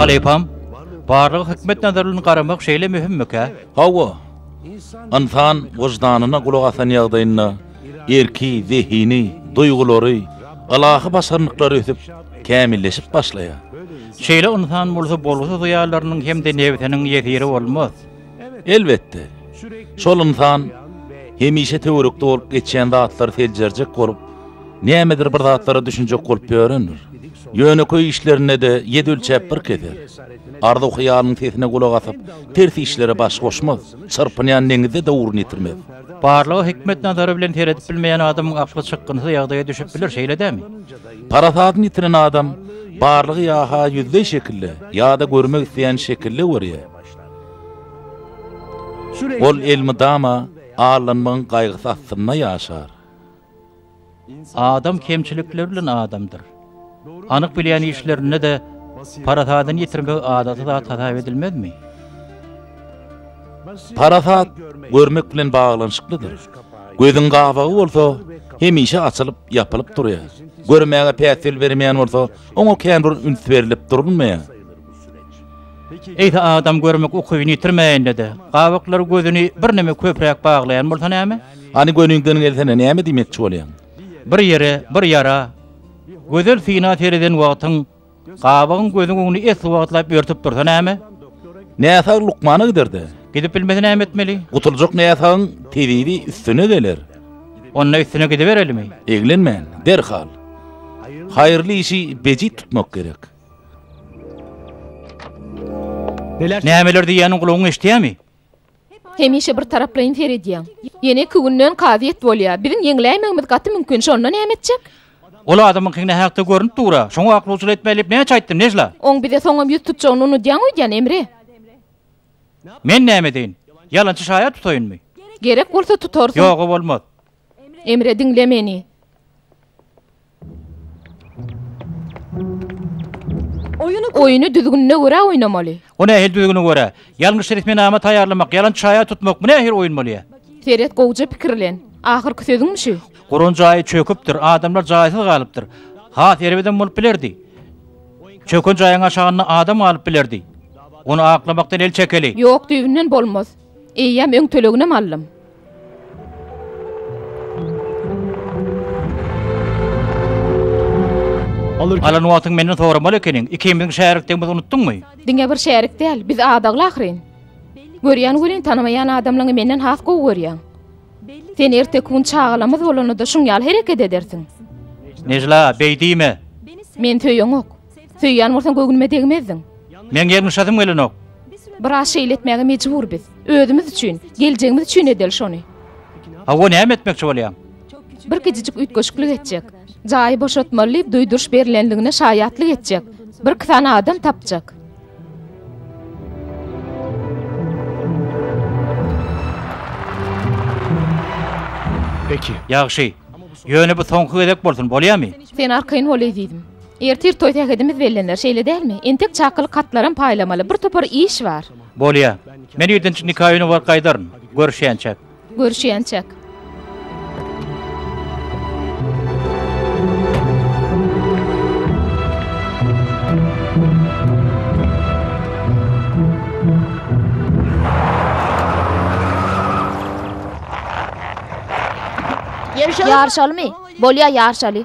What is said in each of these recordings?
Halypam, barlyga hikmet nazary bilen garamak şeýle möhümmikä? Hawa. Ynsan wyždanyna gulak asan ýagdaýynda erki, zehini, duýgulary, ylahy başarnyklary ösüp, kämilleşip başlaýar. Şeýle ynsan bolsa bolgusyz hyýallarynyň hem-de nebsiniň ýesiri bolmaz. Elbetde, şol ynsan hemişe töwerekde bolup geçýän zatlary seljerjek bolup, nämedir bir zatlara düşünjek bolup ýörendir. Ýönekeý işlerinde-de ýedi ölçäp bir keser. Arzuw-hyýalyň sesine gulak asyp, ters işlere baş goşmaz, çyrpynýan deňizde döwrüni ýitirmez. Barlyga hikmet nazary bilen seredip bilmeýän adamyň akly çykgynsyz ýagdaýa düşüp biler, şeýle dämi? Parasadyny ýitiren adam barlygy ýa-ha ýüzleý şekilde, ýa-da görmek isleýän şekilde görýär. Ol elmydama allanmagyň gaýgysy astynda ýaşar. Adam kemçilikler bilen adamdyr. Anyk bilýän işlerinde-de parasadyny ýitirmegi adaty zat hasap edilmezmi? Parasat görmek bilen baglanyşyklydyr. Gözüň gabagy bolsa, hemişe açylyp, ýapylyp durýar. Görmäge päsgel berilmeýän bolsa, oňa känbir üns berlip durulmaýar. Eýse adam görmek ukybyny ýitirmäýende-de, gabaklary gözüni birneme köpräk baglaýan bolsa näme? Hany gönüňden gelsene, näme diýmekçi bolýaň? Bir ýere, bir ýara, gözel syna sereden wagtyň, gabagyň gözüň öňüni esli wagtlap örtüp dursa näme? Näsag lukmana gider-de. Gidip bilmese näme etmeli? Gutuljak näsagyň tebibi üstüne geler. Onda üstüne gidiberelimi? Eglenmän, derhal. Haýyrly işi bejit tutmak gerek. Nämeler diýýäniň gulagyň eşidýämi? Hemişe bir taraplaýyn seredýäň. Ýene iki günden kazyýet bolýar. Biziň ýeňläýmegimiz gaty mümkin, şonda näme etjek? Ol adamyňky nähakda görnüp dur-a. Şoňa aklawçylyk etme diýip näçe aýtdym, Nejla? Oň bize soňam ýüz tutjagyny unudýaň öýdýän, Emre. Men näme edeýin? Ýalançy şaýat tutaýynmy? Gerek bolsa tutarsyň. Ýog-a bolmaz. Emre, diňle meni. Oýny düzgünine görä oýnamaly. O nähili düzgüne görä? Ýalňyş resminama taýýarlamak, ýalan çaýa tutmak, bu nähili oýun bolýar? Seret gowja pikirlen. Ahyrky sözüňmi şu? Guran jaýy çöküpdir, adamlar jaýsyz galypdyr. Has erbedem bolup bilerdi. Çöken jaýyň aşagynda adam galyp bilerdi. Ony aklamakdan el çekeli. Ýok düýbünden bolmaz. Eýýäm öň töleginem aldym. Alan wagtyň menden soramaly ekeniň, ikimiziň şärikdigimizi unutdyňmy? Diňe bir şärik däl, biz adagly ahyryn. Görýän welin tanamaýan adamlaňy menden has gowy görýäň. Sen erteki gün çagalamyz bolanda-da şuň ýaly hereket edersiň. Nejla, beý diýme! Meni söýeňok. Söýýän bolsaň göwnüme degmezdiň. Meň ýalňyşasym gelenok. Biraz şeýle etmäge mejbur biz. Özümiz üçin, geljegimiz üçin edeli şony. Hawa, näme etmekçi bolýaň? Bir kiçijik üýtgeşiklik etjek. Jaýy boşatmaly diýip duýduryş berilendigine şaýatlyk etjek. Birki sany adam tapjak. Peki. Ýagşy. Ýöne bu soňky gezek bolsun, bolýamy? Sen arkaýyn bol ezizim. Ertir toý sähedimiz bellener, şeýle dälmi? Entek çakylyk hatlaram paýlamaly. Bir topar iş bar. Bolýa. Men ýedinji nika öýüne baryp gaýdaryn. Görüşýänçäk. Görüşýänçäk. Ýaryşalymy? Bolýa, ýaryşaly.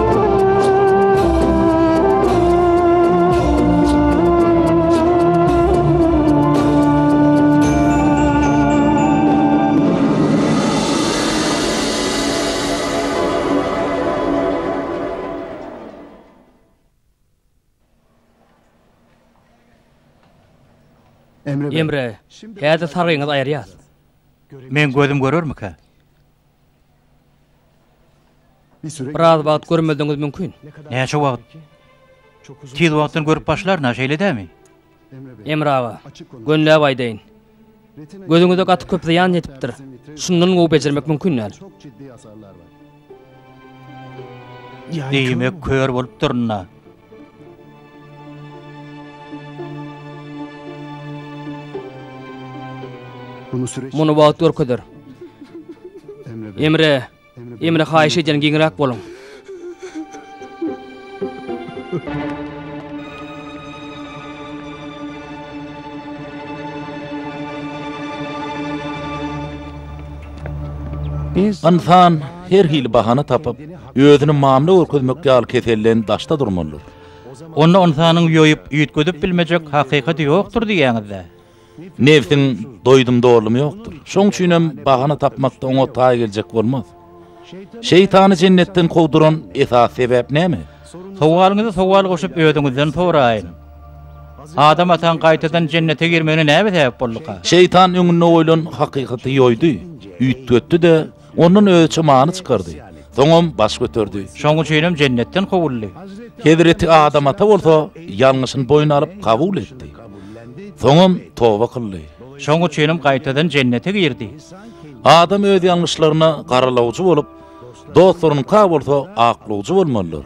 Emre, häzir sargyňyzy aýyrýas. Meň gözüm görermikä? Biraz wagt görmezligiňiz mümkin. Näçe wagt? Tiz wagtdan görüp başlaryn-a, şeýle dämi? Emre aga, gönläp aýdaýyn. Gözüňize gaty köp zyýan ýetipdir. Şundan gowy bejermek mümkin däl. Diýmek, kör bolup durun-a. Muny wagt görkezer. Emre. Emre haýyş edýän giňräk boluň. Ynsan her hili bahana tapyp, Özüni mamla görkezmek ýaly keselden daşda durmalydyr. Onda ynsanyň ýoýup, üýtgedip bilmejek hakykaty ýokdur diýýäňiz-dä? Nebsiň doýdum-dolumy ýokdur. Şoň üçinem bahana tapmakda oňa taý geljek bolmaz. Şeýtany jennetden kowduran esasy sebäp näme? Sowalyňyza sowal goşup özüňizden soraýyň. Adam ataň gaýtadan jennete girmegine näme sebäp bolduka? Şeýtan öňünde goýlan hakykaty ýoýdy, üýtgetdi-de, Ondan öz çymany çykardy. Soňam baş göterdi. Şonuň üçinem jennetden kowuldy. Hezreti Adam ata bolsa ýalňyşyny boýun alyp kabul etdi. Soňam toba kyldy. Şonuň üçinem gaýtadan jennete girdi. Adam öz ýalňyşlaryna garalawjy bolup, dostlarynyňka bolsa aklawjy bolmalydyr.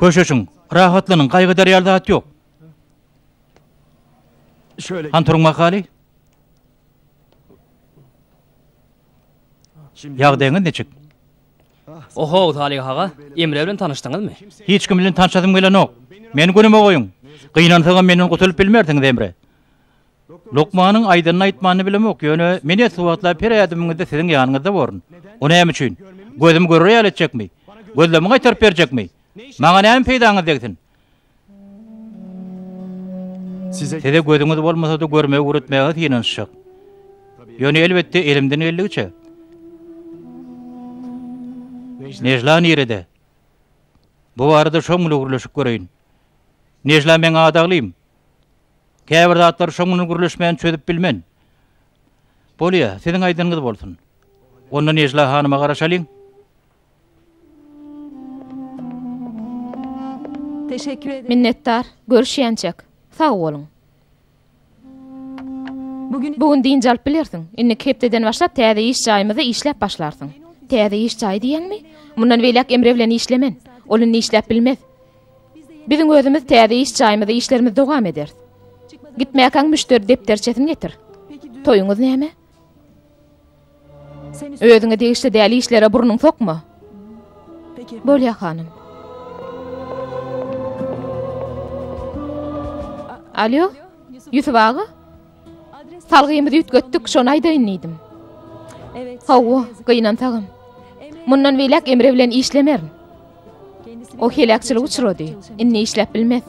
Köşeşiň, rahatlanyň, gaýgydar ýaly zat ýok. Han turuň mahaly. Ýagdaýyňyz niçik? Ohow, Salyh aga, Emre bilen tanyşdyňyzmy? Hiç kim bilen tanşasym gelenok. Meni günüme goýuň. Gynansagam menden gutulyp bilmersiňiz, Emre. Lukmanyň aýdanyny-aýtmanyny bilemok, ýöne men esgi wagtlap her ädimiňizde siziň ýanyňyzda borun. O näme üçin? Gözüm görür ýaly etjekmi? Gözlemimi gaýtaryp berjekmi? Maňa näme peýdaňyz degsin? Size gözüňiz bolmasa-da görmegi öwretmäge synanyşjak. Ýöne elbetde elimden geldigiçe. Nejla nirede? Bu barada şoň bilen gürleşip göreýin. Nejla meň adaglym. Käbir zatlary şoň bilen gürleşmän çözüp bilmen. Bolýa, siziň aýdanyňyz bolsun. Onda Nejla hanuma garaşalyň. Minnetdar, görüşýänçäk. Sag boluň. Bu gün dynç alyp bilersiň. Indiki hepdeden başlap täze iş jaýymyzda işläp başlarsyň. Täze iş jaýy diýýäňmi? Mundan beýläk Emre bilen işlemen. Ol indi işläp bilmez. Biziň özümiz täze iş jaýymyzda işlerimizi dowam ederis. Gitmäkäň müşderi depderçesini getir. Toýuňyz näme? Özüňe degişli däl işlere burnuňy sokma. Bolýar, hanym. Alýo, Ýusup aga? Salgymyzy üýtgetdik, şony aýdaýyn diýdim. Hawa, gynansagam. Mundan beýläk Emre bilen işlemerin. O heläkçilik uçrady. Indi işläp bilmez.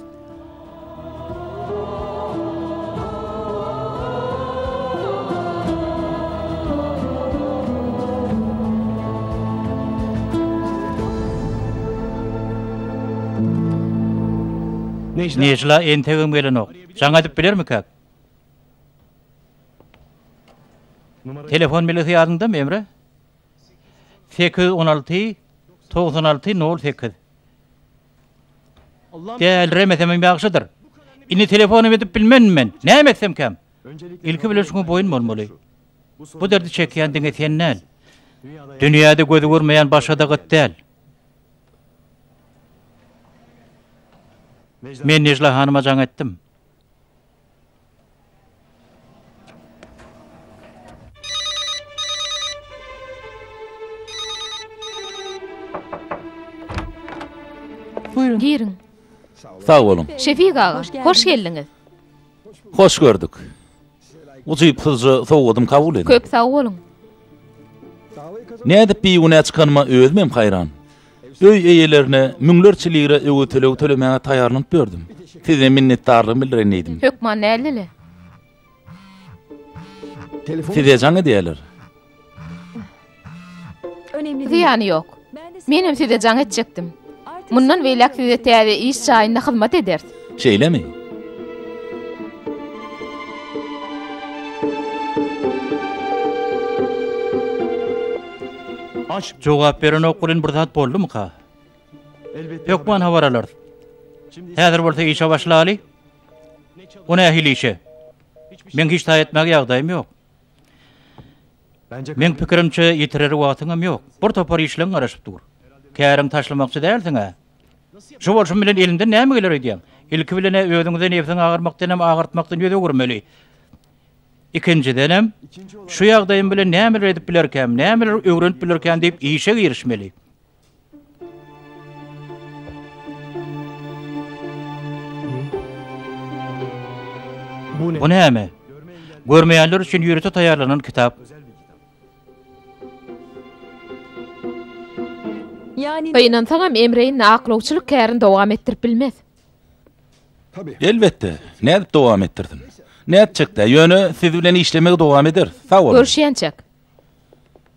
Nejla entegem gelenok. Jaň aýdyp bilermikäk? Telefon belgisi ýadyňdamy, Emre? sekiz ýüz on alty togsan alty nol sekiz Däliremesem ýagşydyr. Indi telefonam edip bilmen men. Näme etsem kem? Ilki bilen şuňa boýun bolmaly. Bu derdi çekýän diňe sen däl. Dünýäde gözi görmeýän başga-da gyt däl. Men Nejla hanyma jaň etdim. Buyurun. Girin. Sag boluň. Şefik aga, hoş geldiňiz. Hoş gördük. Ujypsyzja sowgadym kabul ediň. Köp sag boluň. Nädip bigünä çykanyma özümem haýran. Öý eýelerine müňlerçe lira öwez tölegi tölemäge taýýarlanyp ýördüm. Size minnetdarlygymy bildireýin diýdim. Hökman näldele? Size jaň edýärler. Zyýany ýok. Menem size jaň etjekdim. Mundan beýläk size täze iş jaýynda hyzmat ederis. Şeýlemi? Jogap berenok welin bir zat boldumyka? Hökman habar alarys. Häzir bolsa işe başlaly. Bu nähili işe? Meň hiç taý etmäge ýagdaýym ýok. Meň pikirimçe, ýitirer wagtyňam ýok. Bir topar işleň garaşyp dur. Käriňi taşlamakçy dälsiň-ä. Şu bolşum bilen eliňden näme geler öýdýäň? Ilki bilen-ä özüňize nebsiňi agyrmakdanam, agyrtmakdan ýüz öwürmeli. Ikinjidenem, şu ýagdaýym bilen nämeler edip bilerkäm, nämeler öwrenip bilerkäm diýip işe girişmeli. Bu näme? Görmeýänler üçin ýörite taýýarlanan kitap. Gynansaňam, Emre indi aklawçylyk kärini dowam etdirip bilmez. Elbetde, nädip dowam etdirsin? Nätjek-dä, ýöne siz bilen işlemegi dowam ederis. Sag boluň. Görüşýänçäk.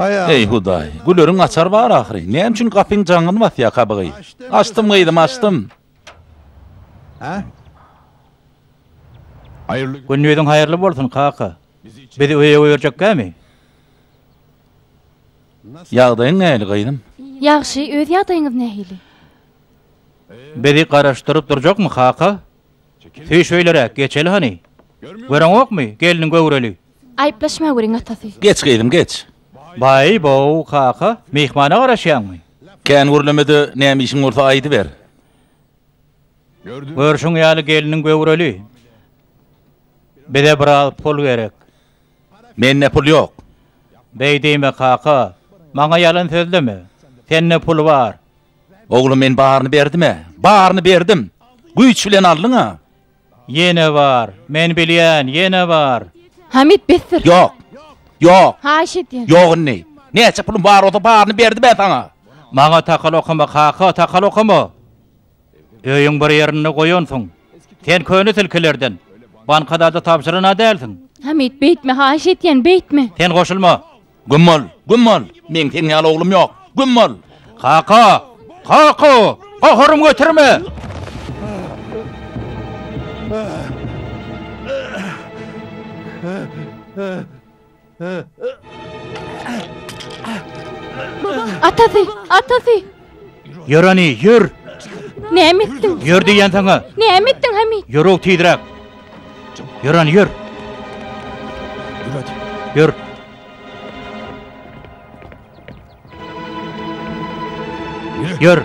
Eý, Hudaý, güleriň açar bar ahyry. Näme üçin gapyň jaňyny basýar kabygy? Açdym, gyzym, açdym. Gündiziň haýyrly bolsun, kaka. Bizi öýe goýberjekkämi? Ýagdaýyň nähili, gyzym? Ýagşy, öz ýagdaýyňyz nähili? Bizi garaşdyryp durjakmy, kaka? Süý şöýleräk, geçeli hany. Göreňokmy, gelniň göwreli. Aýyplaşma göreň atasy. Geç gyzym, geç. Baý-bow, kaka, myhmana garaşýaňmy? Kän gürleme-de, näme işiň bolsa aýdyber. Görşüň ýaly, gelniň göwreli. Bize biraz pul gerek. Mende pul ýok. Beý diýme, kaka. Maňa ýalan sözleme. Sende pul bar. Oglum men baryny berdim-ä. Baryny berdim. Güýç bilen aldyň-a. Ýene bar. Men bilýän, ýene bar. Hamid, besdir. Ýok. Ýok. Haýyş edýän. Ýok indi. Näçe pulum bar bolsa baryny berdim men saňa. Maňa takal okama, kaka, takal okama. Öýüň bir ýerinde goýansyň. Sen köne tilkilerden. Bankada-da tabşyran-a dälsiň. Hamid, beýtme, haýyş edýän, beýtme. Sen goşulma. Güm bol! Güm bol! Meň seň ýaly oglum ýok! Güm bol! Kaka! Kaka! Gaharymy göterme! Atasy! Atasy! Ýör hany, ýör! Näme etdiň? Ýör diýýän saňa! Näme etdiň, Hamit? Ýör-ow tizräk! Ýör hany, ýör! Ýör! Ýör!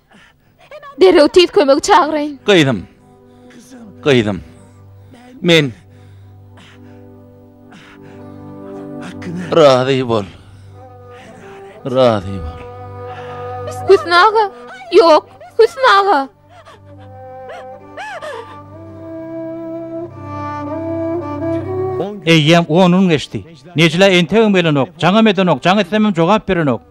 Derrew tiz kömegi çagyraýyn. Gyzym. Gyzym. Men Razy bol. Razy bol. Hüsn aga. Ýok, Hüsn aga. Eýýäm on gün geçdi. Nejla entegem gelenok, jaňam edenok, jaň etsemem jogap berenok.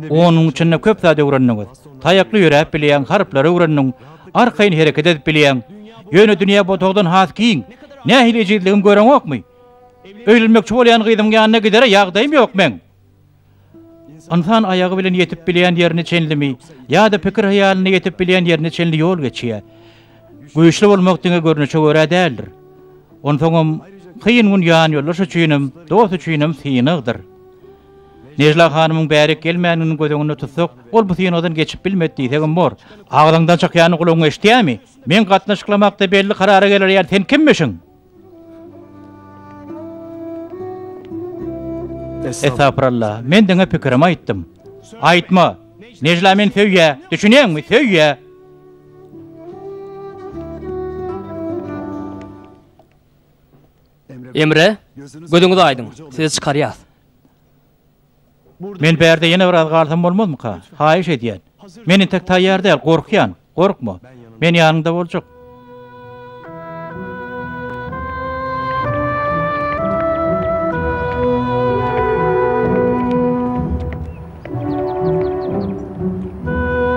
Onuň içinde köp zat öwrendiňiz. Taýakly ýöräp bilýäň, harplary öwrendiň, arkaýyn hereket edip bilýäň. Ýöne dünýä bu otagdan has giň. Nähili ejizligimi göreňokmy? Öýlenmekçi bolýan gyzyň ýanyna gidere ýagdaýym ýok meň. Ynsan aýagy bilen ýetip bilýän ýerine çenlimi ýa-da pikir-hyýalynda ýetip bilýän ýerine çenli ýol geçýär. Güýçli bolmak diňe görnüşe görä däldir. Onsoňam, kyn gün ýanýoldaş üçinem, dost üçinem synagdyr. Nejla hanymyň bärik gelmänini göz öňünde tutsak, ol bu synagdan geçip bilmedi diýsegem bor. Agzyňdan çykýany gulagyň eşidýärmi? Meň gatnaşyklamakda belli karara geler ýaly sen kimmişiň? Estagfuralla, men diňe pikirimi aýtdym. Aýtma! Nejla meni söýýä, düşünýäňmi, söýýä! Emre, gözüňiz aýdyň, sizi çykarýas. Men bärde ýene biraz galsam bolmazmyka? Haýyş edýän. Men entek taýýar däl, gorkýan. Gorkma. Men ýanyňda boljak.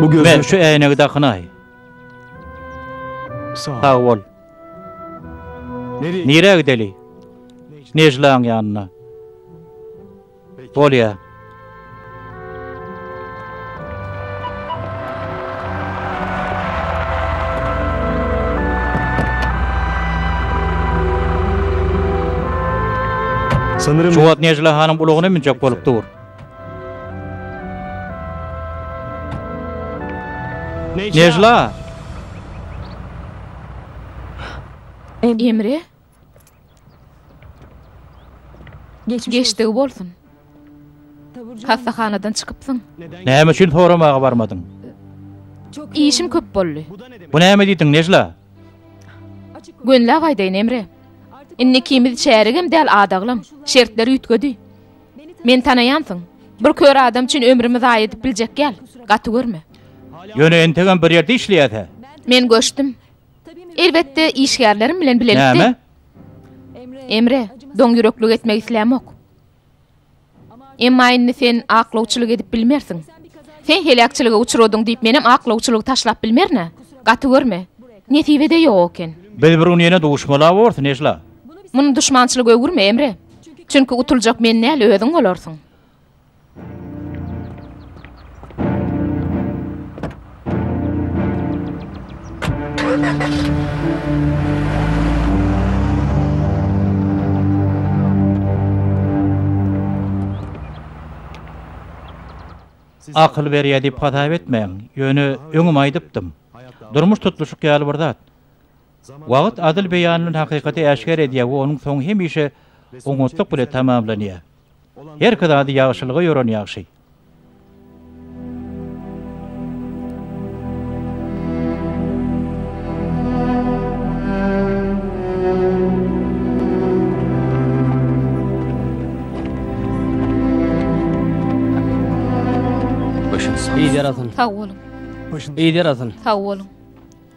Bugün şu äýnegi dakynaý. Sag bol. Nirä gideli? Nejlaň ýanyna. Bolýa. Şu wagt Nejla hanyň ulagyna münjek bolup dur. Nejla! Emre? Geçdigi bolsun. Hassahanadan çykypsyň. Näme üçin soramaga barmadyň? Işim köp boldy. Bu näme diýdiň, Nejla? Gönläp aýdaýyn, Emre. Indi ikimiz çäregem däl, adaglam. Şertler üýtgedi. Meni tanaýansyň. Bir kör adam üçin ömrümi zaýa edip biljek ýal. Gaty görme. Ýöne entegem bir ýerde işleýäs-ä. Men göçdüm. Elbetde, işgärlerim bilen bilelikde. Näme? Emre, doňýüreklik etmek islämok. Emma indi sen aklawçylyk edip bilmersiň. Sen heläkçilige uçradyň diýip menem aklawçylygy taşlap bilmerin-ä. Gaty görme. Nesibede ýok eken. Biz bir gün ýene duşmala bors, Nejla. Muny duşmançylyga öwürme, Emre. Çünki utuljak men däl, özüň bolarsyň. Akyl berýär diýip hasap etmäň. Ýöne öňem aýdypdym. Durmuş tutluşyk ýaly bir zat. Wagt adyl beýan bilen hakykaty äşgär edýär we onuň soňy hemişe oňatlyk bilen tamamlanýar. Herki zady ýagşylyga ýoran ýagşy. Sag boluň. Sag boluň.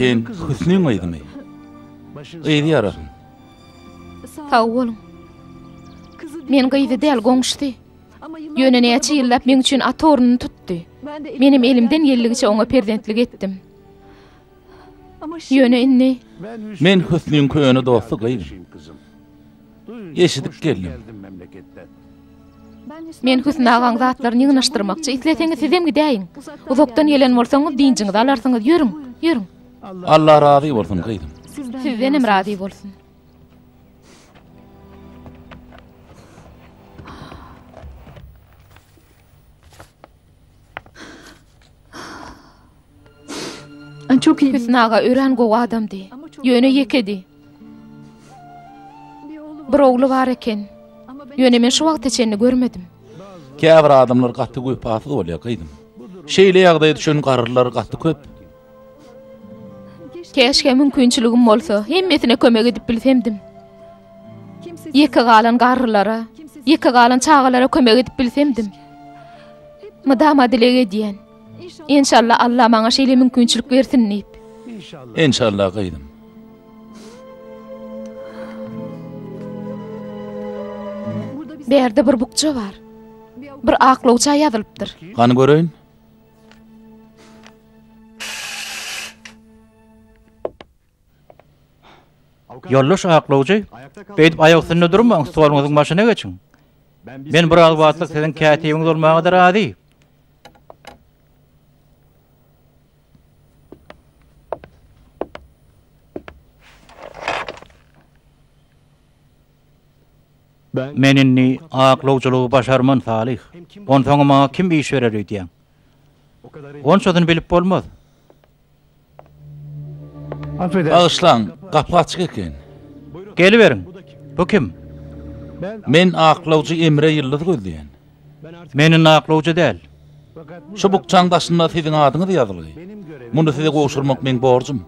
Sen Hüsniň gyzymy? Gyzy ýarasyn. Sag boluň. Men gyzy däl, goňşusy. Ýöne näçe ýyllap meň üçin ata ornuny tutdy. Menem elimden geldigiçe oňa perzentlik etdim. Ýöne indi Men Hüsniň köne dosty gyzym. eşidip geldim. Men Hüsn agaň zatlaryny ýygnaşdyrmakçy, isleseňiz sizem gidäýiň. Uzakdan gelen bolsaňyz dynjyňyzy alarsyňyz, ýörüň, ýörüň. Allah razy bolsun gyzym. Sizdenem razy bolsun. Hüsn aga örän gowy adamdy. Ýöne ýekedi. Bir ogly bar eken. Ýöne men şu wagta çenli görmedim. Käbir adamlar gaty wepasyz bolýar, gyzym. Şeýle ýagdaýa düşen garrylar gaty köp. Keşke mümkinçiligim bolsa, hemmesine kömek edip bilsemdim. Ýeke galan garrylara, ýeke galan çagalara kömek edip bilsemdim. Mydama dileg edýän. Enşalla Alla maňa şeýle mümkinçilik bersin diýip. Enşalla gyzym. Berde bir bukja bar. Bir aklawça ýazylypdyr. Gany göreýin. Ýoldaş aklawjy, beýdip aýak üstünde durmaň, stoluňyzyň başyna geçiň. Men biraz wagtlyk siziň kätibiňiz bolmaga-da razy. Men indi aklawjylygy başarman, Salyh. Onsoňam maňa kim iş berer öýdýäň? Onçasyny bilip bolmaz. Bagyşlaň, gapy açyk eken. Geliberiň. Bu kim? Men aklawjy Emre Ýyldyz gözleýän. Men indi aklawjy däl. Şu bukjaň daşynda siziň adyňyz ýazylgy. Muny size gowşurmak meň borjum.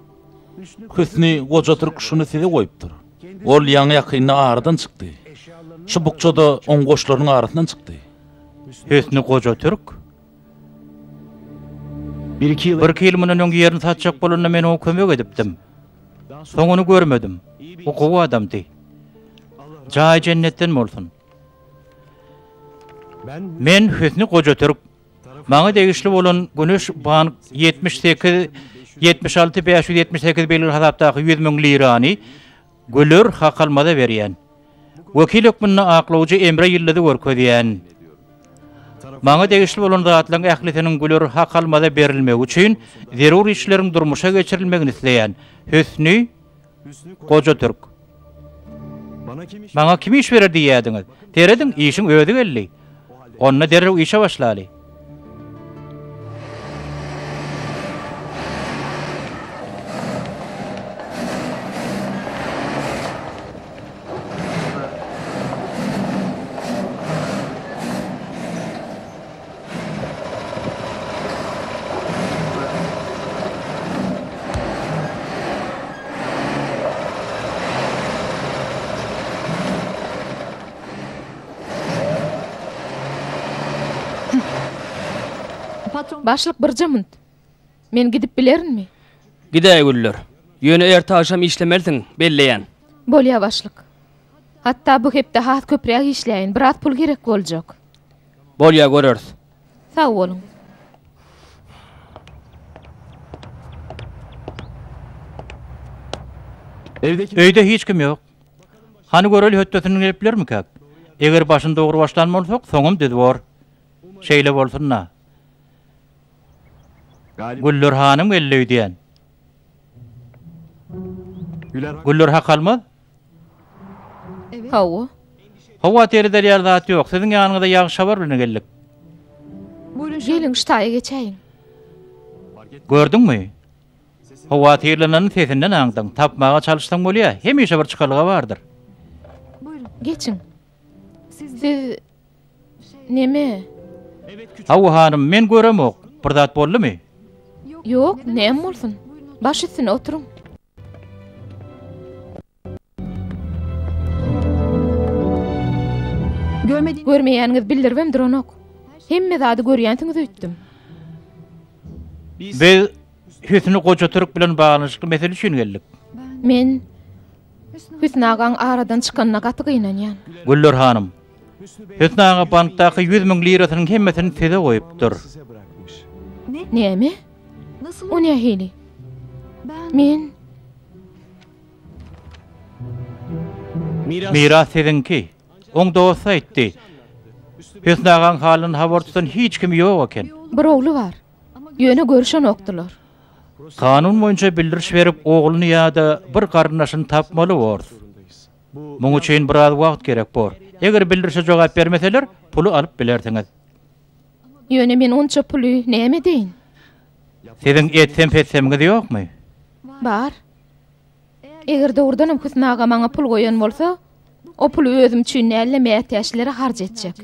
Hüsni goja türk şuny size goýupdyr. Ol ýaňy-ýakynda aradan çykdy. Şu bukja-da oň goşlarynyň arasyndan çykdy. Hüsni goja türk. Birki ýyl mundan öň ýerini satjak bolanda men oňa kömek edipdim. Soň ony görmedim. O gowy adamdy. Jaýy jennetden bolsun. Men Hüsni goja türk. Maňa degişli bolan Güneş bank ýetmiş sekiz ýetmiş alty bäş ýüz ýetmiş sekiz belgili hasapdaky ýüz müň lirany Güler Hakalmaza berýän. Wekil hökmünde aklawjy Emre Ýyldyzy görkezýän. Maňa degişli bolan zatlaryň ählisiniň Güler Hakalmaza berilmegi üçin zerur işleriň durmuşa geçirilmegini isleýän. Hüsni. Goja türk. Maňa kim iş berer diýýädiňiz? Serediň, işiň özi geldi. Onda derrew işe başlaly. Başlyk birje munt. Men gidip bilerinmi? Gidäý, Güller. Ýöne erte-agşam işlemelisiň, belleýän. Bolýar, başlyk. Hatda bu hepde has köpräk işläýin, biraz pul gerek boljak. Bolýar, göreris. Sag boluň. Öýde hiç kim ýok. Hany göreli hötdesinden gelip bilermikäk? Eger başyny dogry başlan bolsak, soňam düz bor. Şeýle bolsun-da. Güller hanym geldi öýdýän. Güller hakalmaz? Hawa. Hawa, seredilýär zat ýok. Siziň ýanyňyza ýagşy habar bilen geldik. Geliň, ştaýa geçäýiň. Gördüňmi? Howatyrlananyny sesinden aňdyň. Tapmaga çalyşsaň bolýar, hemişe bir çykalga bardyr. Geçiň. Siz neme? Hawa, hanym, men göremok. Bir zat boldumy? Ýok, näme bolsun. Baş üstüne oturyň. Görmeýäniňizi bildiribem duranok. Hemme zady görýänsiňiz öýtdüm. Biz Hüsni goja türk bilen baglanyşykly mesele üçin geldik. Men Hüsni agaň aradan çykanyna gaty gynanýan. Güller hanym, Hüsni aga bankdaky ýüz müň lirasynyň hemmesini size goýupdyr. Näme? O nähili? Men Miras siziňki. Oň dosty aýtdy. Hüsni agaň halyny habar tutan hiç kimi ýok eken. Bir ogly bar. Ýöne görüşenokdylar. Kanun boýunça bildiriş berip ogluny ýa-da bir garyndaşyny tapmaly bors. Muň üçin biraz wagt gerek bor. Eger bildirişe jogap bermeseler, puly alyp bilersiňiz. Ýöne men onça puly näme edeýin? Siziň etsem-petsemiňiz ýokmy? Bar. Eger dogrudanam Hüsn aga maňa pul goýan bolsa, o puly özüm üçin däl-de mätäçlere harç etjek.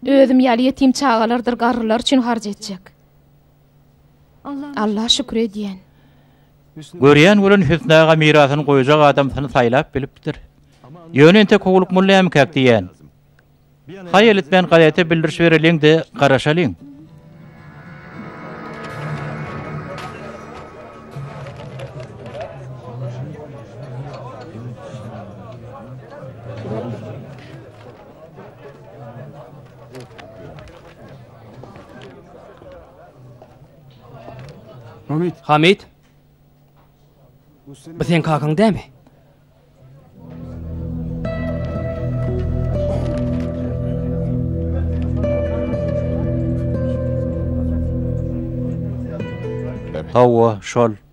Özüm ýaly ýetim çagalardyr garrylar üçin harç etjek. Allaha şükür edýän. Görýän bolan Hüsni aga mirasyny goýjak adamsyny saýlap bilipdir. Ýöne entek Howluk molla ämkäk diýýän. Haýal etmän gazete bildiriş bereliň-de garaşalyň. Hamid. Bu sen kakaň dämi? Hawa, şol.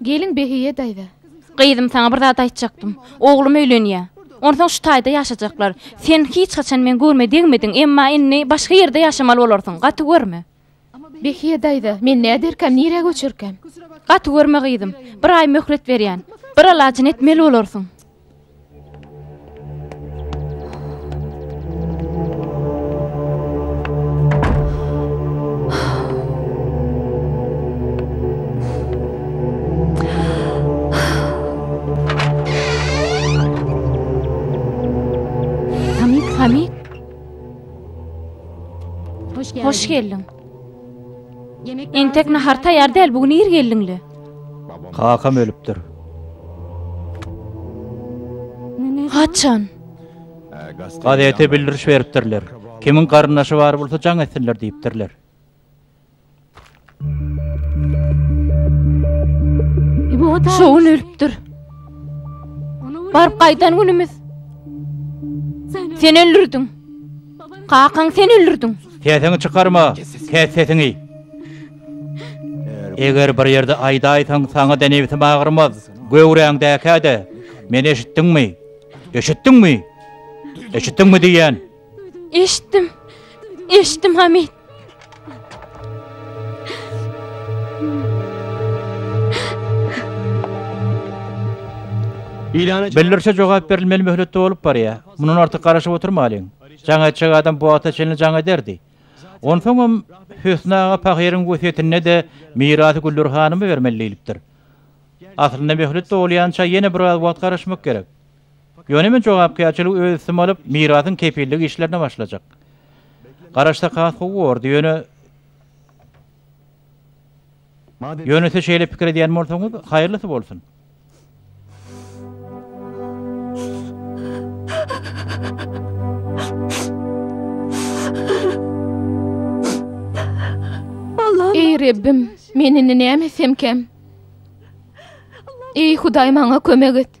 Gelin Behiýe daýza. Gyzym, saňa bir zat aýtjakdym. Oglum öýlenýär. Onsoň şu taýda ýaşajaklar. Sen hiç haçan men görme degmediň, emma indi başga ýerde ýaşamaly bolarsyň. Gaty görme. Behiýe daýza, men näderkäm, nirä göçerkäm? Gaty görme, gyzym. Bir aý möhlet berýän. Bir alajyny etmeli bolarsyň. Hoş geldiň. Entek nahar taýýar däl, bu gün ir geldiňle. Kakam ölüpdir. Haçan? Gazete bildiriş beripdirler. Kimiň garyndaşy bar bolsa jaň etsinler diýipdirler. Şo gün ölüpdir. Baryp gaýdan günümiz. Sen öldürdiň. Kakaň sen öldürdiň. Sesiňi çykarma. Kes sesiňi. Eger bir ýerde aýdaýsaň, saňa da nebsim agyrmaz. Göwräňdäkä-de, meni eşitdiňmi? Eşitdiňmi? Eşitdiňmi diýýän? Eşitdim. Eşitdim Hamid. Bildirişe jogap berilmeli möhletde bolup barýar. Mundan artyk garaşyp oturmalyň. Jaň etjek adam bu wagta çenli jaň ederdi. Onsoňam Hösni aga pahyryň wesýetinde-de mirasy Güller hanyma bermeli diýlipdir. Aslynda möhlet dowulýança ýene biraz wagt garaşmak gerek. Ýöne men jogapkärçiligi öz üstüme alyp, mirasyň kepillik işlerine başlajak. Garaşsak has gowy bordy, ýöne. Ýöne siz şeýle pikir edýän bolsaňyz, haýyrlysy bolsun. Eý, Rebbim, men indi näme etsemkäm? Eý, Hudaý, maňa kömek et!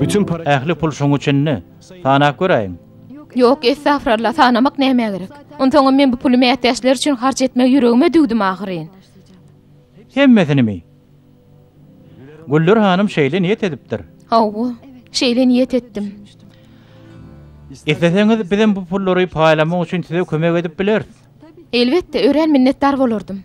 Bütün para... Ähli pul şoň üçinmi? Sanap göräýiň. Ýok, estagfuralla, sanamak nämä gerek? Onsoňam men bu puly mätäçler üçin harç etmegi ýüregime düwdüm ahyryn. Hemmesinimi? Güller hanym şeýle niýet edipdir. Hawa, şeýle niýet etdim. Isleseňiz, bizem bu pullary paýlamak üçin size kömek edip bileris. Elbetde, örän minnetdar bolardym.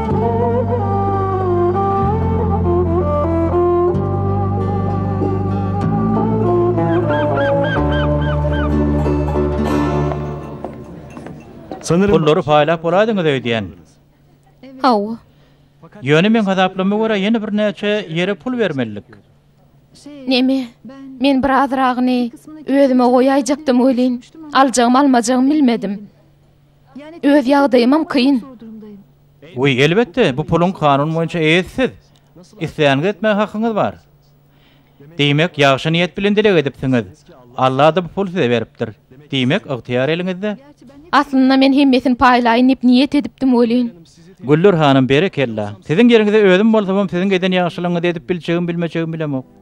Pullary paýlap bolaýdyňyz öýdýän. Hawa. Ýöne meň hasaplama görä ýene birnäçe ýere pul bermelidik. Neme? Men birazragyny özüme goýaýjakdym welin, aljagymy-almajagym bilmedim. Öz ýagdaýymam kyn. Wiý, elbetde, bu puluň kanun boýunça eýesi siz. Isleýäniňizi etmäge hakyňyz bar. Diýmek, ýagşy niýet bilen dileg edipsiňiz. Alla-da bu puly size beripdir. Diýmek, ygtyýar eliňizde. Aslynda men hemmesini paýlaýyn diýip niýet edipdim welin. Güller hanym, berekella. Siziň ýeriňizde özüm bolsamam siziň eden ýagşylygyňyzy edip biljegim-bilmejegim bilemok.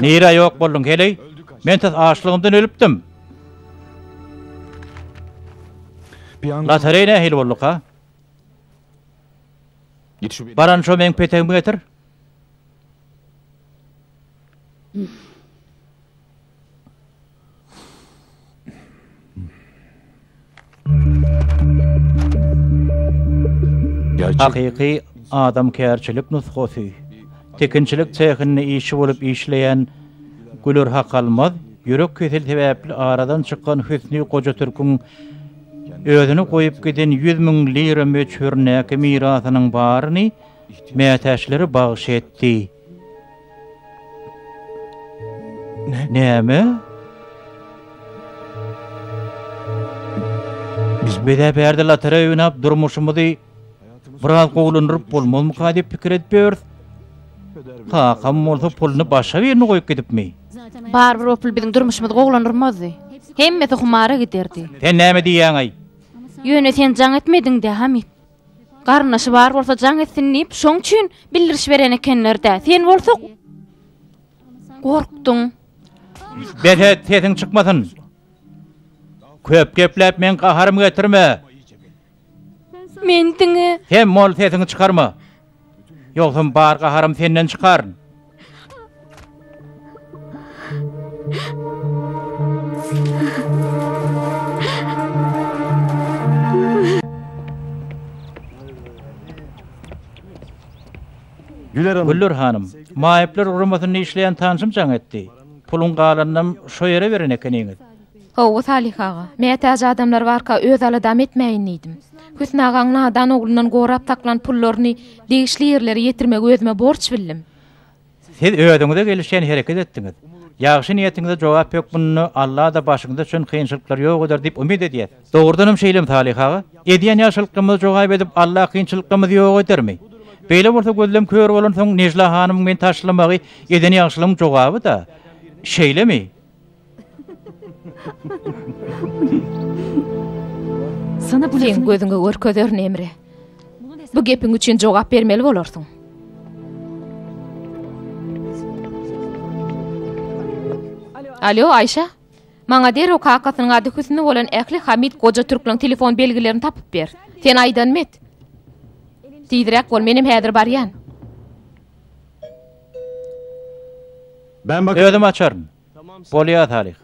Nirä ýok bolduň, heleý? Men tas açlygymdan ölüpdim. Lotereýa nähili bolduk-a? Baran şo meň petegimi getir. Hakyky adamkärçilik nusgasy. Tikinçilik sehinde işçi bolup işleýän Güler Hakalmaz ýürek keseli sebäpli aradan çykan Hüsni Goja-Türküň özüne goýup giden ýüz müň lira möçberindäki mirasynyň baryny mätäçlere bagyş etdi. Näme? Biz bile bärde lotereýa oýnap durmuşymyzy biraz gowulandyryp bolmazmyka diýip pikir edip ýörüs. Kakam bolsa puluny başga birine goýup gidipmi? Barybir o pul biziň durmuşymyzy gowulandyrmazdy. Hemmesi humara giderdi. Sen näme diýýäň-aý? Ýöne sen jaň etmediň-dä, Hamyt. Garyndaşy bar bolsa jaň etsin diýip, şoň üçin bildiriş beren ekenler-dä. Sen bolsa gorkduň. Berhiz, sesiň çykmasyn. Köp gepläp meň gaharymy getirme. Men diňe. Sen bol, sesiňi çykarma. Ýogsam bar gaharym senden çykar. Güller hanym, maýyplar guramasyny işleýän tanşym jaň etdi. Puluň galanynam şo ýere beren ekeniňiz. Hawa, Salyh aga. Mätäç adamlar barka öz aladamy etmäýin diýdim. Hüsn agaň nadan oglundan gorap saklan pullaryny degişli ýerlere ýetirmegi özüme borç bildim. Siz özüňize gelişýän hereket etdiňiz. Ýagşy niýetiňize jogap hökmünde Alla-da başyňyza düşen kynçylyklar ýok eder diýip umyt edýäs. Dogrudanam şeýlemi, Salyh aga? Edýän ýagşylyklarymyza jogap edip, Alla kynçylyklarymyzy ýok edermi? Beýle bolsa gözlem kör bolansoň Nejla hanymyň meni taşlamagy eden ýagşylygyň jogaby-da. Şeýlemi? Seň gözüňe görkezerin, Emre. Bu gepiň üçin jogap bermeli bolarsyň. Alo, Aýşe. Maňa derrew kakasynyň ady Hüsni bolan ähli Hamid goja türklüň telefon belgilerini tapyp ber. Sen aýdanymy et. Tizräk bol, menem häzir barýan. Özüm açaryn. Bolýa, Salih.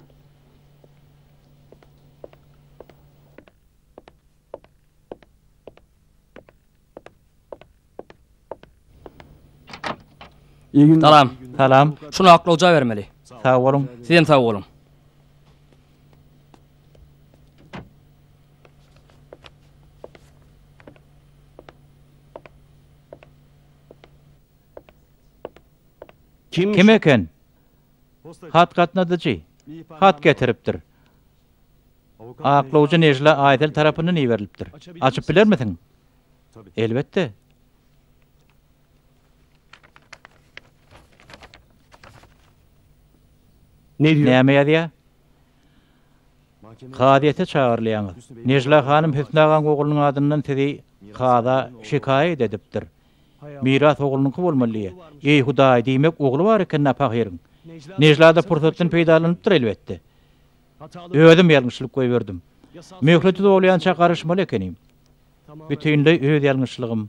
Salam. Salam. Şuny aklawja bermeli. Sag boluň. Sizem sag boluň. Kim eken? Hat gatnadyjy. Hat getiripdir. Aklawjy Nejla Aýsel tarapyndan iberilipdir. Açyp bilermisiň? Elbetde. Näme ýazýar? Kazyýete çagyrylýaňyz. Nejla hanym Hüsni agaň oglunyň adyndan sizi kaza şikaýat edipdir. Miras oglunyňky bolmaly diýýä. Eý, Hudaý, diýmek, ogly bar eken-dä pahyryň. Nejla-da pursatdan peýdalanypdyr, elbetde. Özüm ýalňyşlyk goýberdim. Möhleti dolýança garyşmaly ekenim. Bütinleý öz ýalňyşlygym.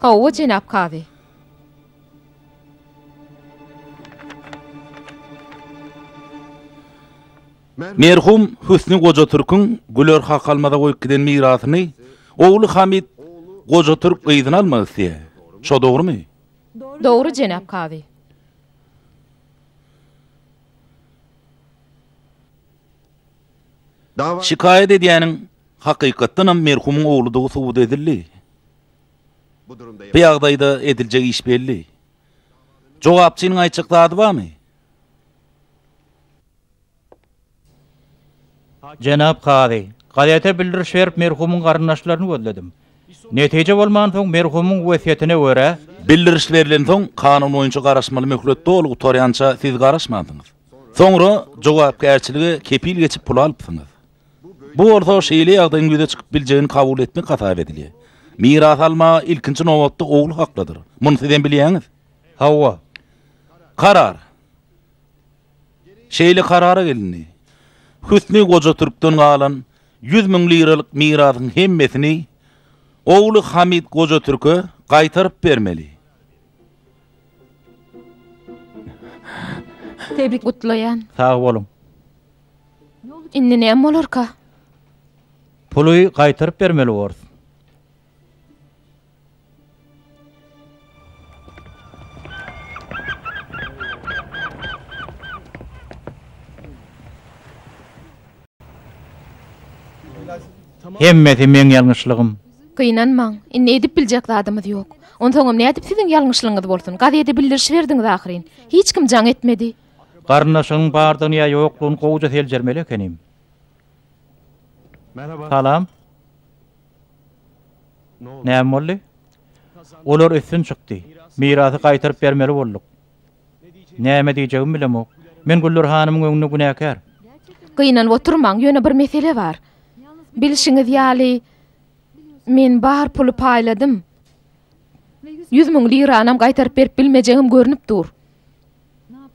Hawa, jenap kazy. Merhum Hüsni Goja-Türküň Güler Hakalmaza goýup giden mirasyny ogly Hamyt Goja-Türk yzyna almak isleýär. Şo dogrumy? Dogry, jenap kazy. Şikaýat edýäniň, hakykatdanam, merhumyň ogludygy subut edildi. Bu ýagdaýda ediljek iş belli. Jogapçynyň aýtjak zady barmy? Jenap kazy, gazete bildiriş berip, merhumyň garyndaşlaryny gözledim. Netije bolmansoň, merhumyň wesýetine görä. Bildiriş berilensoň, kanun boýunça garaşmaly möhlet doly gutarýança siz garaşmansyňyz. Soňra jogapkärçilige kepil geçip pul alypsyňyz. Bu bolsa şeýle ýagdaýyň ýüze çykyp biljegini kabul etmek hasap edilýär. Miras alma ilkinji nobatda ogul haklydyr. Muny sizem bilýäňiz. Hawa. Karar. Şeýle karara gelindi. Hüsni goja türkden galan ýüz müň liralyk mirasyň hemmesini ogly Hamyt goja türke gaýtaryp bermeli. Tebrik gutlaýan. Sag boluň. Indi näme bolarka? Puly gaýtaryp bermeli bors. Hemmesi meň ýalňyşlygym. Gynanmaň, indi edip biljek zadymyz ýok. Onsoňam nädip siziň ýalňyşlygyňyz bolsun? Gazede bildiriş berdiňiz ahyryn. Hiç kim jaň etmedi. Garyndaşyňyň bardygyny ýa ýoklugyny gowuja seljermeli ekenim. Salam. Näme boldy? Olar üstün çykdy. Mirasy gaýtaryp bermeli bolduk. Näme diýjegimi bilemok. Men Güller hanymyň öňünde günäkär. Gynanyp oturmaň, ýöne bir mesele bar. Bilşiňiz ýaly, men bar puly paýladym. Ýüz müň liranam gaýtaryp berip bilmejegim görnüp dur.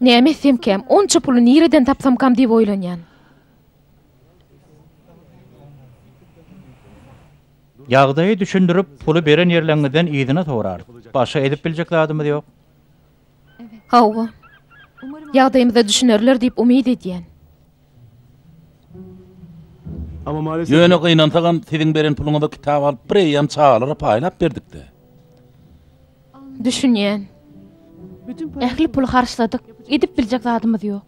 Näme etsemkäm, onça puly nireden tapsamkam diýip oýlanýan. Ýagdaýy düşündirip, puly beren ýerleňňizden yzyna sorarys. Başga edip biljek zadymyz ýok. Hawa. Ýagdaýymyza düşünerler diýip umyt edýän. Ýöne gynansagam siziň beren puluňyza kitap alyp bireýýäm çagalara paýlap berdik-de. Düşünýän. Ähli puly harçladyk, edip biljek zadymyz ýok.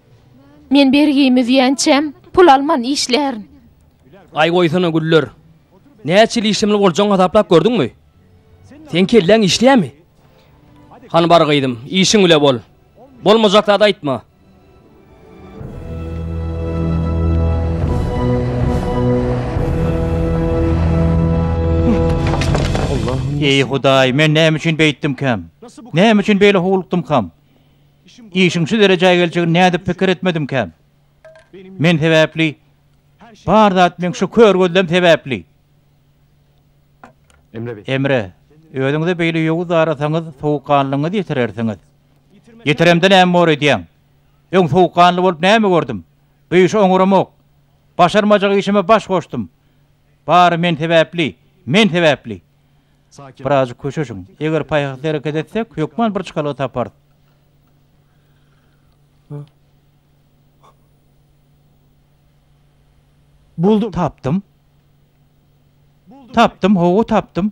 Men bergimi üzýänçäm, pul alman işlärin. Aý goýsana Güller. Näçe ýyl işlemeli boljagyňy hasaplap gördüňmi? Seň kelläň işleýärmi? Hany bar gyzym, işiň bile bol. Bolmajak zat aýtma. Eý Hudaý, men näme üçin beýtdimkäm? Näme üçin beýle howlukdymkam? Işiň şu derejä geljegini nädip pikir etmedimkäm? Men sebäpli, bar zat meň şu kör gözlem sebäpli. Emre, özüňize beýle ýowuz darasaňyz, sowukganlygyňyzy ýitirersiňiz. Ýitiremde näme bor edýäň? Öň sowukganly bolup näme gördüm? Bu işi oňaramok. Başarmajak işime baş goşdum. Bary men sebäpli, men sebäpli. Birazjyk köşeşiň. Eger paýhasly hereket etsek, hökman bir çykalga taparys. Buldum. Tapdym. Tapdym, hawa, tapdym.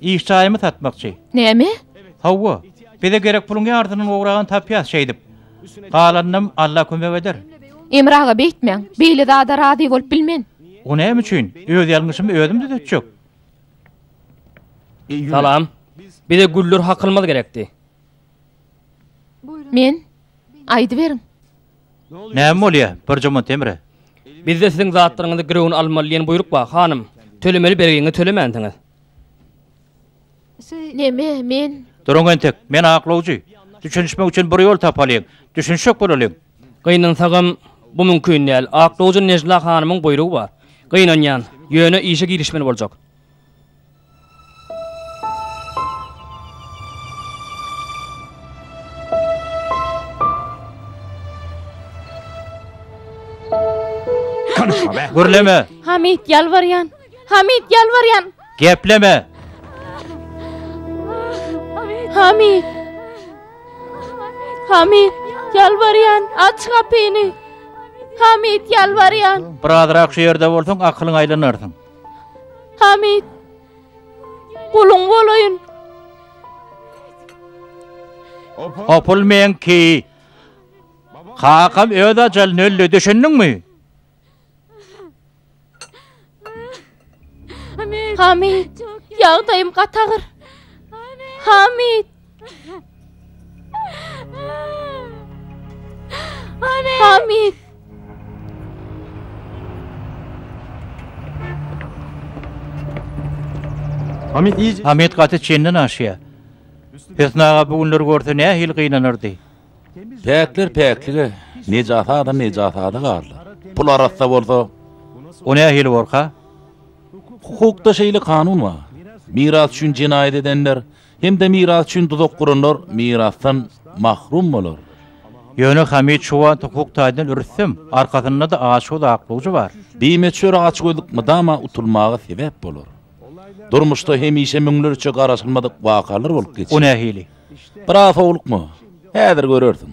Iş jaýymy satmakçy. Näme? Hawa. Bize gerek puluň ýarsynyny ugragan tapýas şeýdip. Galanynam Alla kömek eder. Emir aga beýtmäň. Beýle zada razy bolup bilmen. O näme üçin? Öz ýalňyşymy özüm düzetjek. Salam. Bize güller hakylmaz gerekdi. Men? Aýdyberiň. Näme bolýa, Birjomant Emre? Bizde siziň zatlaryňyzy girewini almaly diýen buýruk bar, hanym. Tölemeli bergiňizi tölemänsiňiz. Näme, men? Duruň entek, men aklawjy. Düşünişmek üçin bir ýol tapalyň. Düşünişjek bolalyň. Gynansagam, bu mümkin däl. Aklawjy Nejla hanymyň buýrugy bar. Gynanýan. Ýöne işe girişmeli boljak. Gürleme! Hamid, ýalbarýan! Hamid, ýalbarýan! Gepleme! Hamid! Hamid, ýalbarýan! Aç gapyny! Hamid, ýalbarýan! Birazrak şu ýerde bolsaň, akylyň aýlanarsyň. Hamid, guluň bolaýyn. Hopul meňki. Kakam öz ajalyny öldi, düşündiňmi? Hamid, ýagdaýym gatagyr. Hamid. Hamid. Hamid iyice... Hamid gaty çenden aşya. Hüsnü ağa bu günler görse ne hil gynanırdı. Päkler päklige, necasa da necasa da garlar. Pul arassa bolsa... O ne hil borka? Hukukda şeyle kanun var. Miras üçin cinayet edenler Hem-de miras üçin duzak guranlar mirasdan mahrum bolar. Ýöne Hamid şu wagt hukuk taýdan rüstem, arkasynda-da aşgöz aklawjy bar. Bimeçüre açgözlük mydama utulmaga sebäp bolar. Durmuşda hemişe müňlerçe garaşylmadyk wakalar bolup geçer. O nähili? Biraz howlukma, häzir görersiň.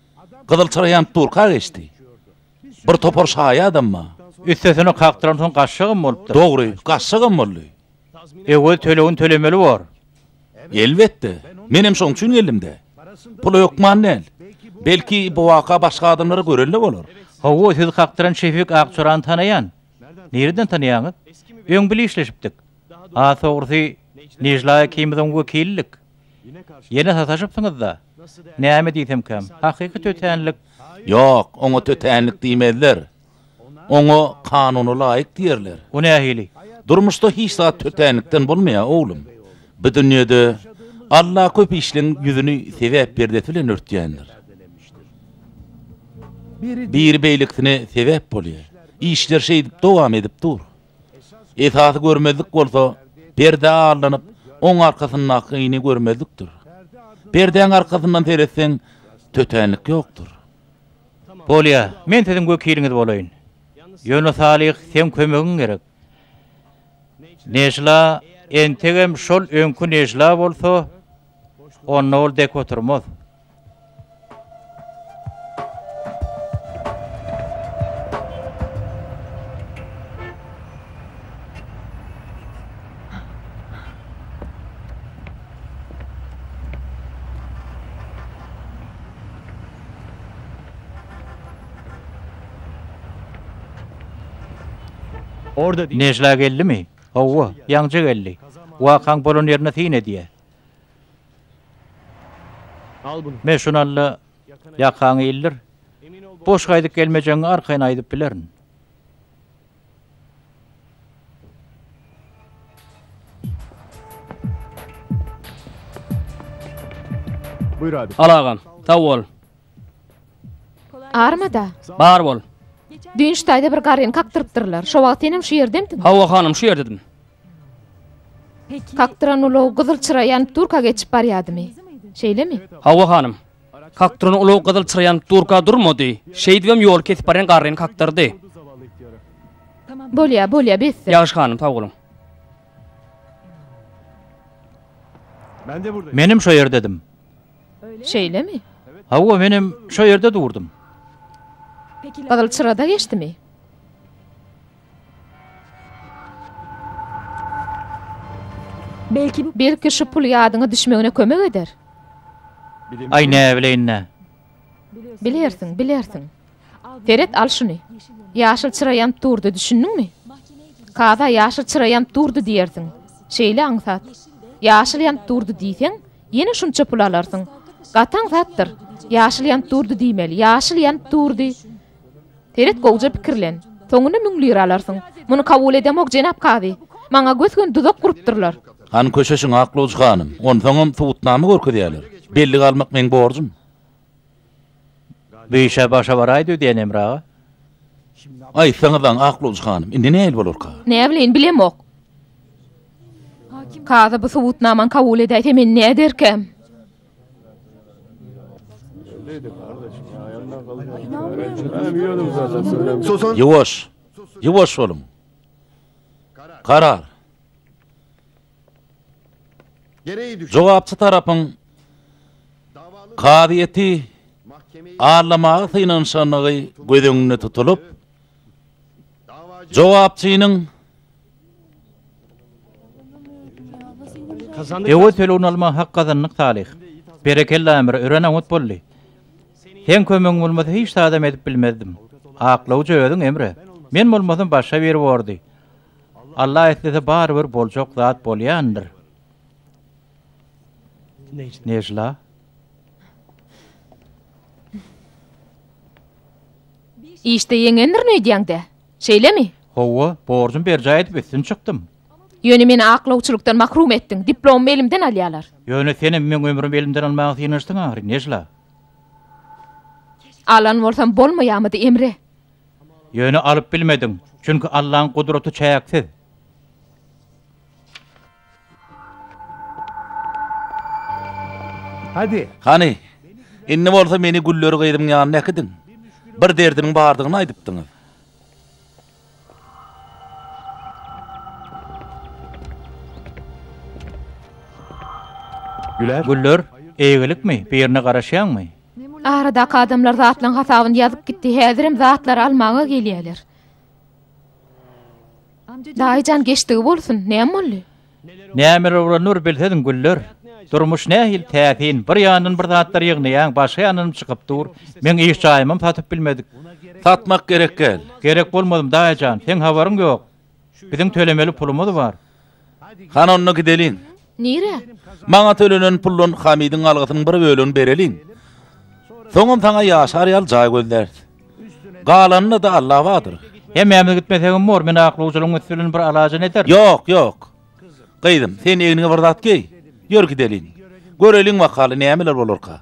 Gyzyl çyrýan durka geçdi. Bir topar şaýadam bar. Üstesine kakdyran soň gaçşagam bolupdyr. Dogry, gaçşagam boldy. Öwez tölegini tölemeli bor. Elbetde. Menem şoň üçin geldim-dä. Pul hökman däl. Belki, bu waka başga adamlar-a gören-le bolar. Hawa, siz kakdyran Şefik Akçorany tanaýan. Nireden tanaýaňyz? Öň bile işleşipdik. Has dogrusy, Nejla ikimiz oň wekilidik. Ýene sataşypsyňyz-da? Näme diýsemkäm, hakyky tötänlik. Ýok, oňa tötänlik diýmezler. Oňa kanuna laýyk diýerler. O nähili? Durmuşda hiç zat tötänlikden bolmaýar, oglum. Bu dünýede Alla köp işleň ýüzüni sebäp perdesi bilen örtýändir. Biri beýlekisine sebäp bolýar. Işler şeýdip dowam edip dur. Esasy görmezlik bolsa, perdä arlanyp, oň arkasyndakyny görmezlikdir. Perdäň arkasyndan seretseň, tötänlik ýokdur. Bolýar, men siziň wekiliňiz bolaýyn. Ýöne, Salyh, seň kömegiň gerek. Nejla, entegem şol öňki Nejla bolsa, onda ol dek oturmaz. Nejla geldimi? Hawa, ýaňja geldi. Wakaň bolan ýerine syn edýär. Men şuny alla ýakaňy ildir. Boş gaýdyp gelmejegiňi arkaýyn aýdyp bilerin. Al agam. Sag bol. Armada? Bar bol. Dynç taýda bir garryny kakdyrypdyrlar. Şo wagt senem şu ýerdemdiň? Hawa hanym, şu ýerdedim. Kakturan ulag gyzyl çyra ýanyp durka geçip barýadymy? Şeýlemi? Hawa, hanym. Kakturan ulag gyzyl çyra ýanyp durka durmady. Şeýdibem ýoly kesip barýan garryny kakdyrdy. Bolýar, bolýar, besdir. Ýagşy, hanym, sag boluň. Menem şo ýerdedim. Şeýlemi? Hawa, menem şo ýerde durdum. Gyzyl çyra-da geçdimi? Belki şu pul ýadyňa düşmegine kömek eder? Aý näbileýin-dä. Bilersiň, bilersiň. Seret, al şuny. Ýaşyl çyra ýanyp durdy, düşündiňmi? Kaza ýaşyl çyra ýanyp durdy diýersiň. Şeýle aňsat. Ýaşyl ýanyp durdy diýseň, ýene şunça pul alarsyň. Gaty aňsatdyr. Ýaşyl ýanyp durdy diýmeli. Ýaşyl ýanyp durdy. Seret, gowja pikirlen. Soňunda müň lira alarsyň. Muny kabul edemok, jenap kazy. Maňa gös-göni duzak gurupdyrlar. Hany köşeşiň, Aklawjy hanym. Onsoňam subutnama görkezýärler. Bellige almak meň borjum. Bu işe başa baraýdy öýdýän, Emre aga. Aýtsaňyzaň, Aklawjy hanym, indi nähili bolarka? Näbileýin, bilemok. Kazy bu subutnamany kabul edäýse, men näderkäm? Ýuwaş! Ýuwaş boluň! Karar! Jogapçy tarapyň kazyýeti aglamaga synanyşandygy göz öňünde tutulyp, Jogapçynyň Ewe tölegini almaga hak gazandyk Salyh. Berekella Ämir, örän oňat boldy. Seň kömegiň bolmasa hiç zadam edip bilmezdim. Aklawjy özüň Emre. Men bolmasam başga biri bordy. Alla islese barybir boljak zat bolýandyr. Nejla. Işde ýeňendirin öýdýäň-dä? Şeýlemi? Hawa, borjumy berjaý edip üstün çykdym. Ýöne meni aklawçylykdan mahrum etdiň, diplomymy elimden alýarlar. Ýöne senem meň ömrümi elimden almaga synanyşdyň ahyry, Nejla. Alan bolsam bolmaýamydy, Emre? Ýöne alyp bilmediň, çünki Allaň gudraty çäksiz. Hadi. Hany, indi bolsa meni Güller gyzyň ýanyna äkidiň. Bir derdiniň bardygyny aýdypdyňyz. Güler. Güller, eýgilikmi, birine garaşýaňmy? Aradaky adamlar zatlaryň hasabyny ýazyp gitdi, häzirem zatlary almaga gelýärler. Daýyjan geçdigi bolsun, näme boldy? Nämeler bolan nur bilsediň güller. Durmuş nähili täsin, bir ýandan bir zatlar ýygnaýaň, başga ýandanam çykyp dur. Meň iş jaýymam satyp bilmedik. Satmak gerek däl. Gerek bolmadym daýyjan, seň habaryň ýok. Biziň tölemeli pulumyz bar. Hany onda gideliň. Nirä? Maňa tölenen puldan Hamidiň algysynyň bir bölegini bereliň. Soňam saňa ýaşar ýaly jaý gözläris. Galanyna-da Alla badyr. Hemmämiz gitmesegem bor, men aklawçylygyň üsti bilen bir alajyny ederin. Ýok, ýok. Gyzym, sen egniňe bir zat geý. Ýör gideliň. Göreliň wakaly nämeler bolarka.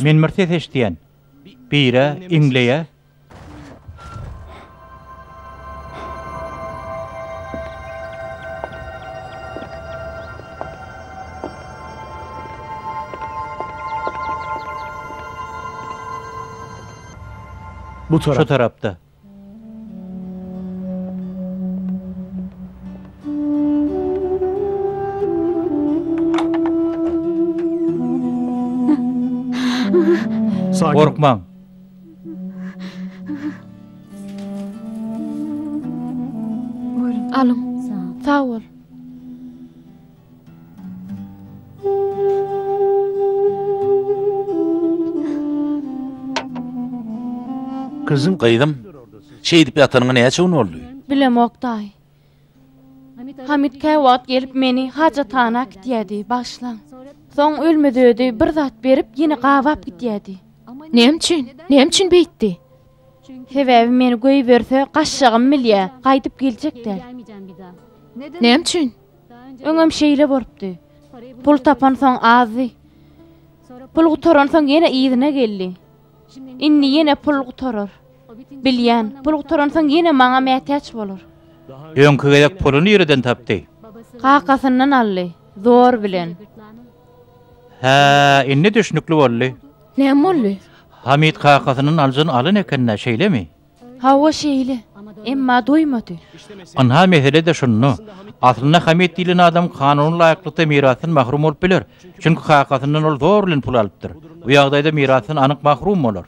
Men bir ses eşidýän. Bire iňleýä. Şu tarapda. Gorkmaň. Alyň. Sag bol. Gyzym, şeýdip ýatanyňa näçe gün boldy? Bilemok, daýy. Hamyt käwagt gelip meni hajathana äkitýärdi, bagyşlaň. Soň ölmez-ödi bir zat berip, ýene gabap gidýärdi. Näme üçin? Näme üçin beýtdi? Sebäbi meni göýberse, gaçjagym bilýär, gaýdyp geljek däl. Näme üçin? Öňem şeýle bolupdy. Pul tapansoň azdy. Pul gutaransoň ýene yzyna geldi. Indi ýene pul gutarar. Bilýän, pul gutaransoň ýene maňa mätäç bolar. Öňki gezek puly nireden tapdy? Kakasyndan aldy. Zor bilen. Hä, indi düşnükli boldy. Näme boldy? Hamyt kakasyndan aljyny alan eken-dä, şeýlemi? Hawa şeýle. Emma doýmady. Ynha mesele-de şunda. Aslynda Hamit diýlen adam kanuna laýyklykda mirasdan mahrum bolup biler. Çünki kakasyndan ol zor bilen pul alypdyr. Bu ýagdaýda mirasdan anyk mahrum bolar.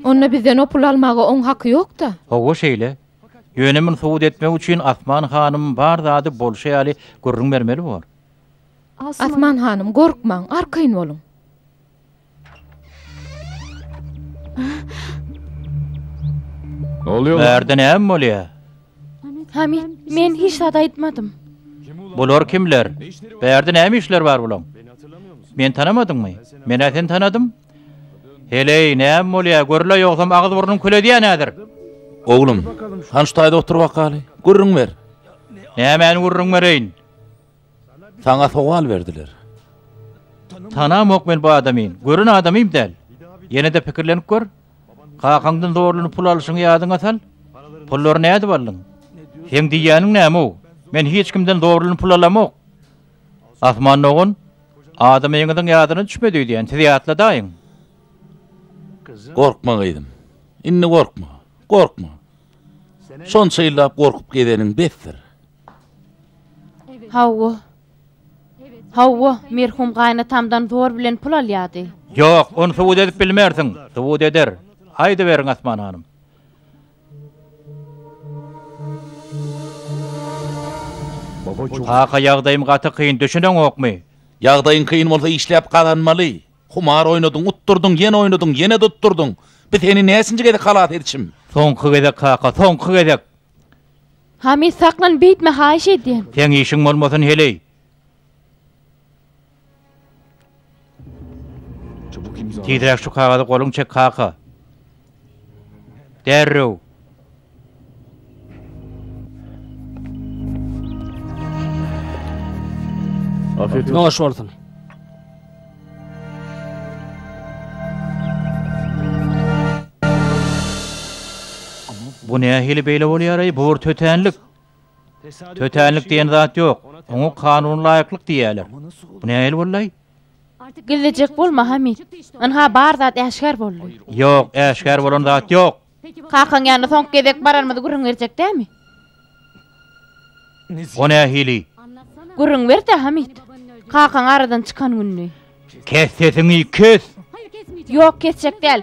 Onda bizden o puly almaga oň haky ýok-da? Hawa şeýle. Ýöne muny subut etmek üçin Asman hanym bar zady bolşy ýaly gürrüň bermeli bor. Asman hanym, gorkmaň, arkaýyn boluň. Ne oluyor lan? Bärde näme bolýar? Hamit, men hiç zat aýtmadym. Bular kimler? Bärde näme işleri bar bulaň? Meni tanamadyňmy? Men-ä seni tanadym. Heleý, näme bolýar? Gürle ýogsam agyz burnuň kül edýän häzir. Oglum, han şu taýda otur bakaly. Gürrüň ber. Nämäni gürrüň bereýin? Saňa sowal berdiler. Tanamok men bu adamy, gören adamym däl. Ýene-de pikirlenip gör. Kakaňdan zorluny pul alyşyňy ýadyňa sal. Pullary nädip aldyň? Seň diýýäniň näme-ow? Men hiç kimden zorluny pul alamok. Asman dogan, adamyňyzyň ýadyna düşmedi öýdýän, siz ýatladaýyň. Gorkma gyzym. Indi gorkma. Gorkma. Şonça ýyllap gorkup gezeniň besdir. Hawa. Hawa, merhum gaýynatamdan zor bilen pul alýardy. Ýok, ony subut edip bilmersiň. Subut eder. Aýdyberiň, Asman hanym. Kaka, ýagdaýym gaty kyn, düşüneňokmy? Ýagdaýyň kyn bolsa işläp gazanmaly. Humar oýnadyň, utdurdyň, ýene oýnadyň, ýene-de utdurdyň. Bi seni näçinji gezek halas edişim? Soňky gezek, kaka, soňky gezek. Hami, saklan, beýtme, haýyş edýän! Seň işiň bolmasyn heleý! Tizräk şu kagazy goluň çek, kaka! Derrew! Noş bolsun! Bu nähili beýle bolýar-aý, bu bir tötänlik. Tötänlik diýen zat ýok. Oňa kanuna laýyklyk diýýärler. Bu nähili boldy-aý? Gizlejek bolma, Hamyt. Ynha, bar zat äşgär boldy. Ýok, äşgär bolan zat ýok. Kakaň ýanyna soňky gezek baranymyzy gürrüň berjek dämi? O nähili? Gürrüň ber-de, Hamyt. Kakaň aradan çykan gününi. Kes sesiňi, kes! Ýok, kesjek däl.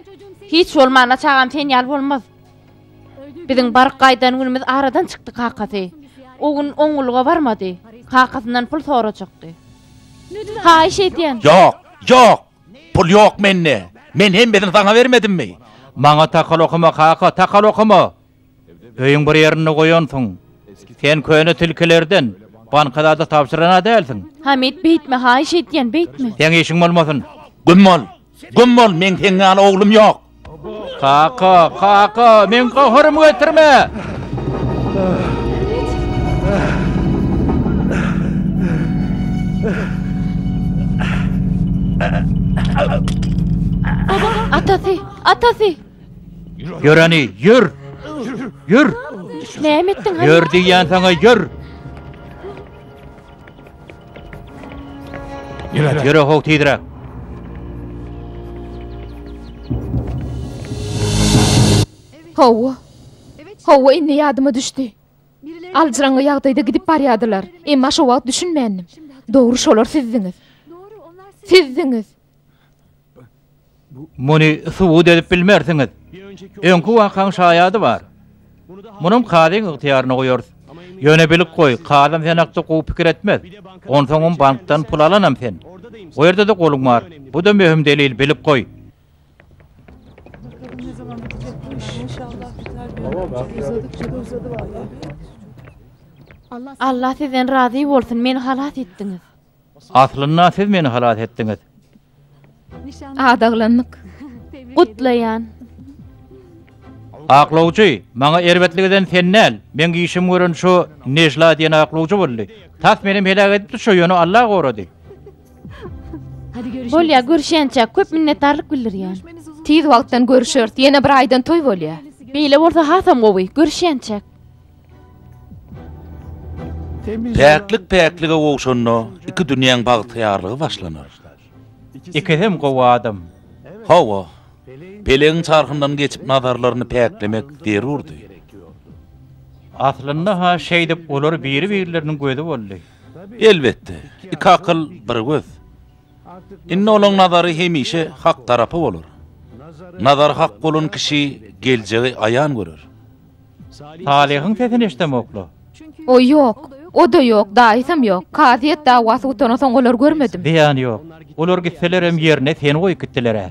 Hiç bolmanda çagam sen ýaly bolmaz. Biziň baryp gaýdan günümiz aradan çykdy kakasy. O gün oňňulyga barmady. Kakasyndan pul sorajakdy. Haýyş edýän! Ýok, ýok! Pul ýok mende. Men hemmesini saňa bermedimmi? Maňa takal okama, kaka, takal okama! Öýüň bir ýerinde goýansyň. Sen köne tilkilerden banka zat-a tabşyran-a dälsiň? Hamid, beýtme, haýyş edýän, beýtme! Seň işiň bolmasyn! Güm bol! Güm bol! Meň seň ýaly oglum ýok! Kaka, kaka, men gohurymy götürme! Atasy, atasy! Ýöreni, ýör! Ýör! Näme etdiň? Ýör diýýän saňa, ýör! Ýöre, ýöre how tizräk. Hawa. Hawa indi ýadyma düşdi. Aljyraňňy ýagdaýda gidip barýardylar. Emma şo wagt düşünmändim. Dogry şolar sizdiňiz. Sizdiňiz. Muny subut edip bilmersiňiz. Öňki wakaň şaýady bar. Munam kazyň ygtyýaryna goýarys. Ýöne bilip goý, kazam seni hakda gowy pikir etmez. Onsoňam bankdan pul alanam sen. O ýerde-de goluň bar. Bu-da möhüm delil, bilip goý. Allah sizden razy bolsun, meni halas etdiňiz. Aslynda siz meni halas etdiňiz. Adaglandyk. Gutlaýan. Aklawjy, maňa erbetlik eden sen däl, meň işim gören şo Nejla diýen aklawjy boldy. Tas menem heläk edipdi şo ýöne Alla gorady. Bolýa görüşýänçäk köp minnetdarlyk bildirýän. Tiz wagtdan görüşeris ýene bir aýdan toý bolýa. Beýle bolsa hasam gowy, görüşýänçäk. Päklik päklige gowşanda, iki dünýäň bagtyýarlygy başlanar. Ikisem gowy adam. Hawa, pelegiň çarhyndan geçip nazarlaryny päklemek zerurdy. Aslynda-ha şeýdip olar biri-birleriniň gözi boldy. Elbetde, iki akyl, bir göz. Indi olaň nazary hemişe hak tarapa bolar. Nazary hak bolan kişi geljegi aýan görer. Salyhyň sesini eşidemokla. O ýok. O-da ýok, daýysam ýok. Kazyýet dawasy gutandan soň olary görmedim. Zyýany ýok. Olar gitselerem ýerine seni goýup gitdiler-ä.